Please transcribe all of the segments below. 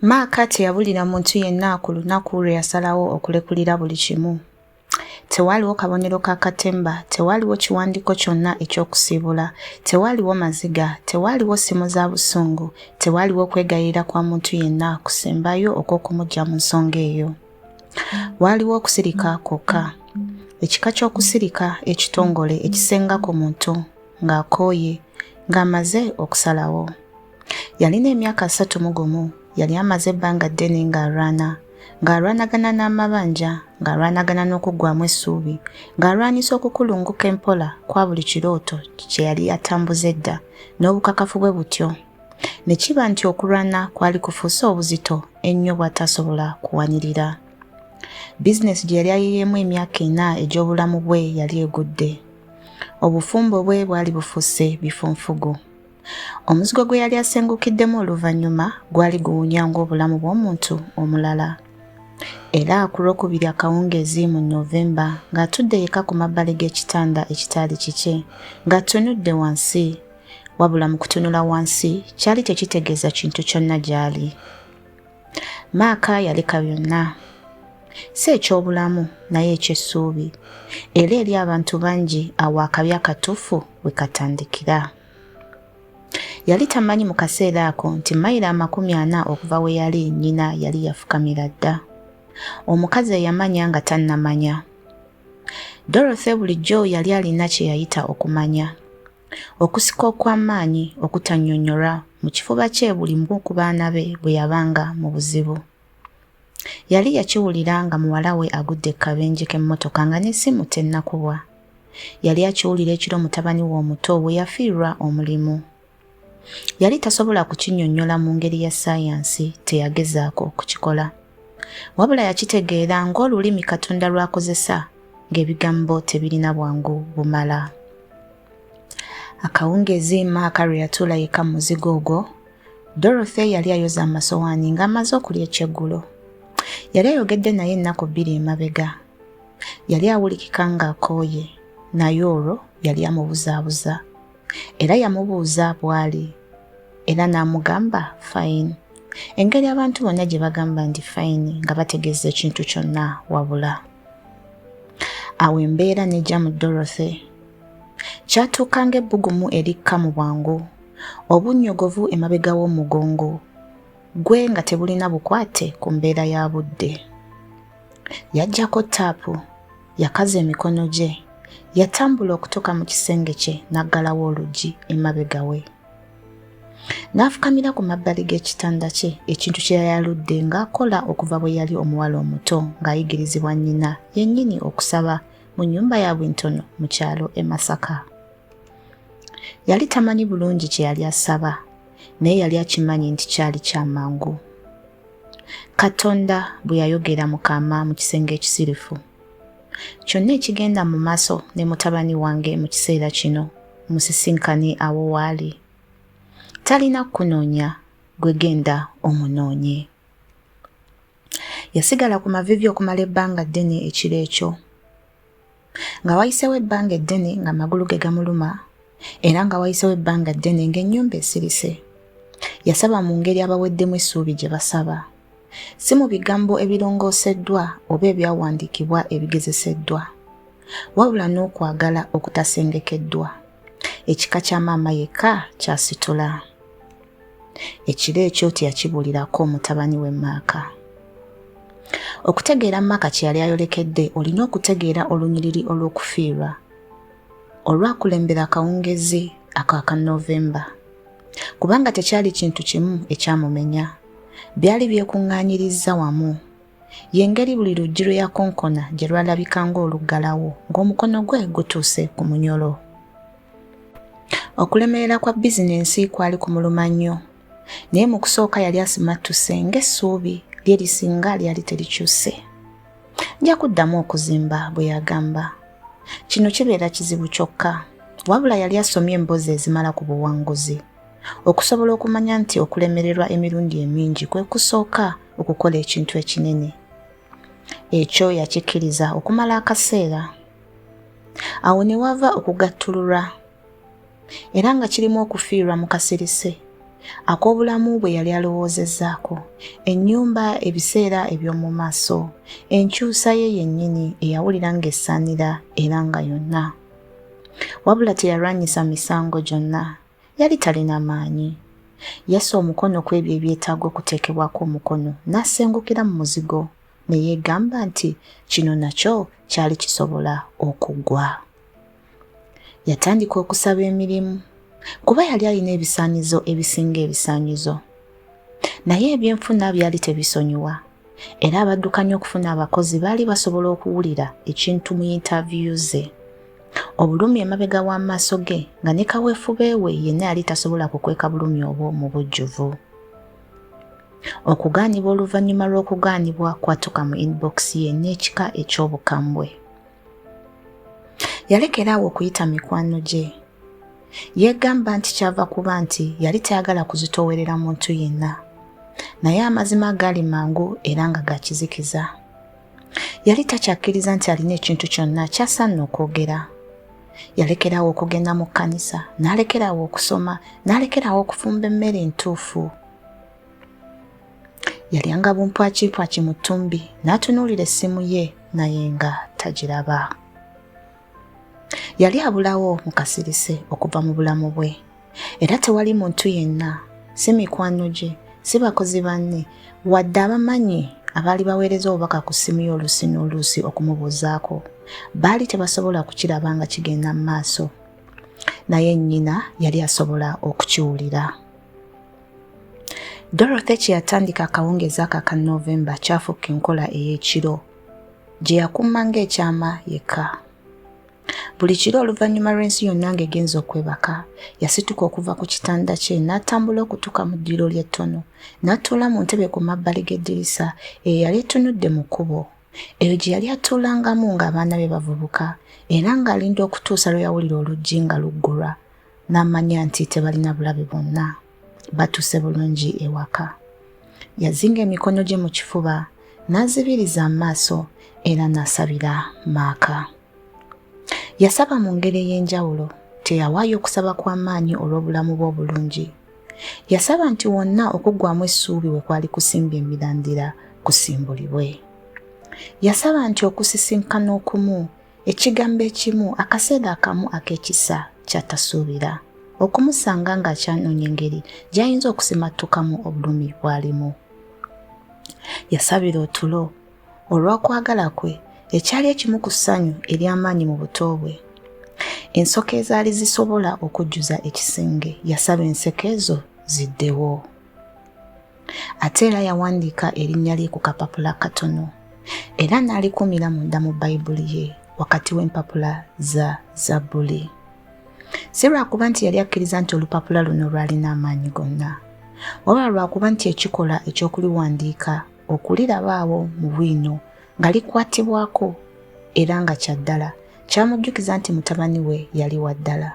Maaka teyabulira muntu yenna ku lunaku lwe yasalawo okulekulira buli kimu. Tewaaliwo kabonero ka katemba, tewaaliwo kiwandiiko kyonna eky'okusiibula, tewaaliwo maziga, tewaaliwo ssimu za busungu, tewaaliwo kwegayirira kwa muntu yenna kusembayo okw'okumuggya mu nsonga eyo. Waaliwo okusirika kwokka. Ekika ky'okusirika ekitongole ekisenga ku muntu ng'akooye, ng'amaze okusalawo. Yalina emyaka asatu mu gumu. Yali amaze ebbanga ddene ng'alwana. Ng'alwanagana n'amabanja, ng'alwanagana n'okuggwamu essuubi, ng'alwanyisa okukulunguka empola kwa buli kirooto kye yali atambuza edda, n'obukakafu bwe butyo. Ne kiba nti okulwana kwali kufuuse obuzito ennyo bw'atasobola kuwanirira. Bizineesi gye yali ayiyeemu emyaka ena egy'obulamu bwe yali egudde. Obufumbo bwe bwali bufuuse bifunfugu. Omuzigo gwe yali asengukiddemu oluvannyuma gwali guwunya ng'obulamu bw'omuntu omulala. Era ku lwokubiri akawungeezi mu Novemba ng'atudde yekka ku mabbali g'ekitanda ekitaali kikye ng'atunudde wansi wabula mu kutunula wansi kyali tekitegeeza kintu kyonna gy'ali. Maaka yaleka byonna si eky'obulamu naye eky'essuubi era eri abantu bangi awo akabi akatuufu we katandikira. Yali tamanyi mu kaseera ako nti mayiro amakumi ana okuva we yali nnyina yali yafukamira dda. Omukazi eyamanya nga tannamanya. Dorothy bulijjo yali alina kye yayita okumanya. Okusika okw'amaanyi okutannyonnyolwa mu kifuba kye buli mu ku baana be bwe yabanga mu buzibu. Yali yakiwulira nga muwala we agudde ku kabenje k'emmotoka nga n'essimu tennakubwa. Yali akiwulira ekiro mutabani we omuto we yafiirwa omulimu. Yali tasobola kukinyonnyola mu ngeri ya sayansi, teyagezaako okukikola. Wabula yakitegeera ng'olulimi Katonda lw'akozesa ng'ebigambo tebirina bwangu bumala. Akawungeezi Maaka lwe yatuula yekka mu muzigo ogwo, Dorothy yali ayoza amasowaani ng'amaze okulya ekyeggulo. Yali ayogedde naye ennaku bbiri emabega. Yali awulikika ng'akooye, naye olwo yali amubuzaabuza. Era yamubuuza bw'ali, era n'amugamba fayini. Engeri abantu bonna gye bagamba nti fayini nga bategeeza ekintu kyonna wabula. Awo embeera n'ejja mu Dorothy. Kyatuuka ng'ebbugumu erikka mu bwangu, obunnyogovu emabega w'omugongo gwe nga tebulina bukwate ku mbeera ya budde. Yaggyako ttaapu, yakaza emikono gye, yatambula okutuuka mu kisenge kye n'aggalawo oluggi emabega we. N'afukamira ku mabbali g'ekitanda kye, ekintu kye yayaludde ng'akola okuva bwe yali omuwala omuto ng'ayigirizibwa nnyina yennyini okusaba mu nnyumba ya Bwintono mu kyalo e Masaka. Yali tamanyi bulungi kye yali asaba, naye yali akimanyi nti kyali kya mangu. Katonda bwe yayogera mu kaama mu kisenge ekisirifu. Kyonna ekigenda mu maaso ne mutabani wange mu kiseera kino musisinkane awo waali. Talina kukunoonya, gwe genda omunoonye. Yasigala ku mavivi okumala ebbanga ddene ekiro ekyo. Nga wayisewo ebbanga eddene nga magulu ge gamuluma era nga wayisewo ebbanga ddene ng'ennyumba esirise. Yasaba mu ngeri abaweddemu essuubi gye basaba. Si mu bigambo ebirongooseddwa oba ebyawandiikibwa ebigezeseddwa. Wabula n'okwagala okutasengekeddwa. Ekika kya maama yekka kyasitula. ekiro ekyo teyakibuulirako mutabani we maaka okutegeera maaka kye yali ayolekedde olina okutegeera olunyiriri olw'okufiirwa olwakulembera akawungezi ako aka novemba kubanga tekyali kintu kimu ekyamumenya byali byekuŋŋaanyirizza wamu yengeri buli luggi lwe yakonkona gye lwalabika ng'oluggalawo ng'omukono gwe gutuuse ku munyolo Okulemerera kwa bizinensi kwali kumuluma nnyo, naye mu kusooka yali asimattuse ng'essuubi lye lisinga lyali terikyuse. Nja kuddamu okuzimba, bwe yagamba. Kino kibeera kizibu kyokka, wabula yali asomye emboozi ezimala ku buwanguzi okusobola okumanya nti okulemererwa emirundi emingi kwe kusooka okukola ekintu ekinene. Ekyo yakikkiriza okumala akaseera. awo ne wava okugattululwa era nga kirimu okufiirwa mu kasirise ak'obulamu bwe yali alowoozezzaako ennyumba ebiseera eby'omu maaso enkyusa ye yennyini eyawulira ng'essaanira era nga yonna wabula teyalwanyisa misango gyonna Yali talina maanyi. Yassa omukono ku ebyo ebyetaaga okuteekebwako omukono, n'asengukira mu muzigo, ne yeegamba nti kino nakyo kyali kisobola okugwa. Yatandika okusaba emirimu, kuba yali alina ebisaanyizo ebisinga ebisaanyizo. Naye ebyenfuna byali tebisonyiwa. era abaddukanya okufuna abakozi baali basobola okuwulira ekintu mu yintaviyu ze obulumi emabega w'amaaso ge nga ne kaweefube we yenna yali tasobola kukweka bulumi obwo mu bujjuvu okugaanibwa oluvannyuma lw'okugaanibwa kwatuka mu inbox ye n'ekika eky'obukambwe yalekera awo okuyita mikwano gye yeegamba nti kyava kuba nti yali tayagala kuzitoowerera muntu yenna naye amazima gaali mangu era nga gakizikiza yali takyakkiriza nti alina ekintu kyonna kyasanna okwogera yalekeraawo okugenda mu kkanisa n'alekeraawo okusoma n'alekeraawo okufumba emmere entuufu yalyanga bumpwakimpwaki mu ttumbi n'atunuulira essimu ye naye nga tagiraba yali abulawo mu kasirise okuva mu bulamu bwe era tewali muntu yenna si mikwano gye si bakozi banne wadde abamanyi abaali baweereza obubaka ku ssimu ye oluusi n'oluusi okumubuuzaako baali tebasobola kukiraba nga kigenda mu maaso naye nnyina yali asobola okukiwulira Dorothy kye yatandika akawungeezi ako aka Novemba kyafuuka enkola ey'ekiro gye yakuuma ng'ekyama yekka. Buli kiro oluvannyuma lw'ensi yonna ng'egenza okwebaka, yasituka okuva ku kitanda kye n'atambula okutuuka mu ddiro ly'ettono n'atuula mu ntebe ku mabbali g'eddirisa eyo yali etunudde mu kkubo. Eyo gye yali atuulangamu ng'abaana be bavubuka era ng'alinda okutuusa lwe yawulira oluggi nga luggulwa n'amanya nti tebalina bulabe bwonna batuuse bulungi ewaka yazinga emikono gye mu kifuba n'azibiriza amaaso era n'asabira maaka yasaba mu ngeri ey'enjawulo teyawaayo okusaba kw'amaanyi olw'obulamu bwe obulungi yasaba nti wonna okuggwamu essuubi we kwali kusimba emirandira kusimbulibwe yasaba nti okusisinkana okumu Ekigambo ekimu akaseera akamu ak'ekisa ky'atasuubira, okumusanga ng'akyanoonya engeri gy'ayinza okusimattukamu obulumi bw'alimu. Yasabira otulo olw'okwagala kwe ekyali ekimu ku ssanyu ery'amaanyi mu buto bwe. Ensoke ezaali zisobola okujjuza ekisenge yasaba enseke ezo ziddewo. Ate era yawandiika erinnya lye ku kapapula katono era n'alikumira munda mu Bayibuli ye wakati w'empapula za Zabbuli. Si lwakuba nti yali akkiriza nti olupapula luno lwalina amaanyi gonna, wabula lwakuba nti ekikola eky'okuliwandiika okulirabaawo mu bwino nga likwatibwako era nga kya ddala kyamujjukiza nti mutabani we yali wa ddala,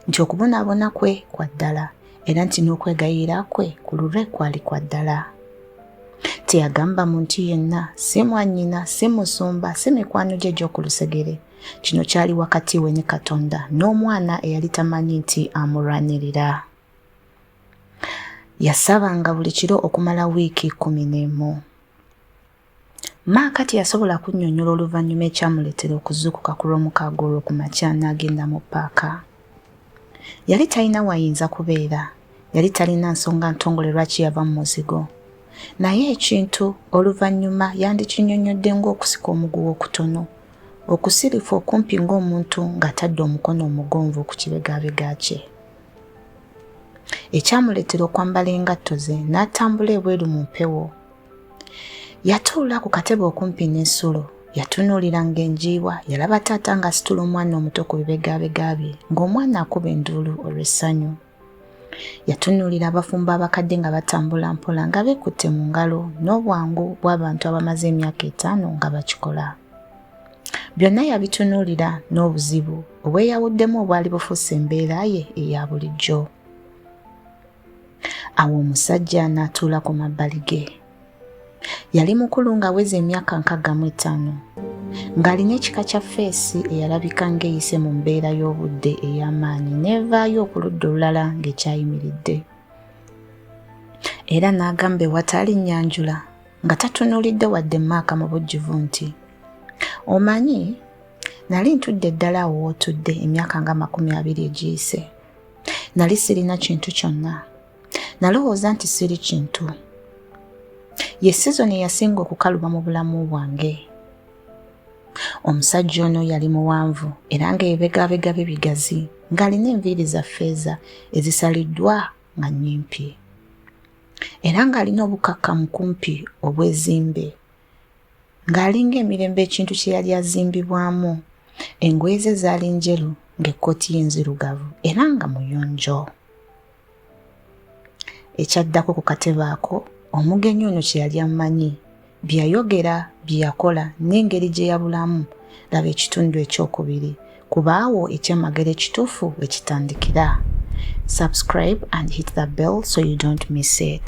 nti okubonaabona kwe kwa ddala. era nti n'okwegayirira kwe ku lulwe kwali kwa ddala teyagamba muntu yenna si mwannyina si musumba si mikwano gye gy'oku lusegere kino kyali wakati we ne katonda n'omwana eyali tamanyi nti amulwanirira yasabanga buli kiro okumala wiiki kumi n'emu Maaka teyasobola kunnyonnyola oluvannyuma ekyamuleetera okuzuukuka ku lw'omukaaga olwo ku makya n'agenda mu ppaaka. Yali talina wayinza kubeera, yali talina nsonga ntongole lwaki yava mu muzigo. Naye ekintu oluvannyuma yandikinnyonnyodde ng'okusika omuguwa okutono, okusirifu okumpi ng'omuntu ng'atadde omukono omugonvu ku kibegabega kye. Ekyamuleetera okwambala engatto ze n'atambula ebweru mu mpewo. yatuula ku katebe okumpi n'ensulo yatunuulira ng'enjiibwa yalaba taata ng'asitula omwana omuto ku bibegabega bye ng'omwana akuba enduulu olw'essanyu yatunuulira abafumbo abakadde nga batambula mpola nga beekutte mu ngalo n'obwangu bw'abantu abamaze emyaka etaano nga bakikola byonna yabitunuulira n'obuzibu obweyawuddemu obwali bufuuse embeera ye eya bulijjo awo omusajja n'atuula ku mabbali ge yali mukulu ng'aweza emyaka nkagga mu etaano ng'alina ekika kya feesi eyalabika ng'eyise mu mbeera y'obudde ey'amaanyi n'evaayo okuludda olulala ng'ekyayimiridde era n'agamba ewataali nnyanjula nga tatunuulidde wadde maaka mu bujjuvu nti omanyi nali ntudde ddala awo wootudde emyaka nga makumi abiri egiyise nali sirina kintu kyonna nalowooza nti siri kintu ye sizoni eyasinga okukaluba mu bulamu bwange omusajja ono yali muwanvu era ng'ebibegabega bye bigazi ng'alina enviiri za ffeeza ezisaliddwa nga nnyimpi era ng'alina obukkakkamu kumpi obwezimbe Ng'alinga emirembe ekintu kye yali azimbibwamu, engoye ze zaali njeru ng'ekkooti ye nzirugavu era nga muyonjo. Ekyaddako ku katebe ako, omugenyi ono kye yali amanyi, bye yayogera, bye yakola n'engeri gye yabulamu, laba ekitundu ekyokubiri, kubaawo ekyamagero ekituufu we kitandikira. Subscribe and hit the bell so you don't miss it.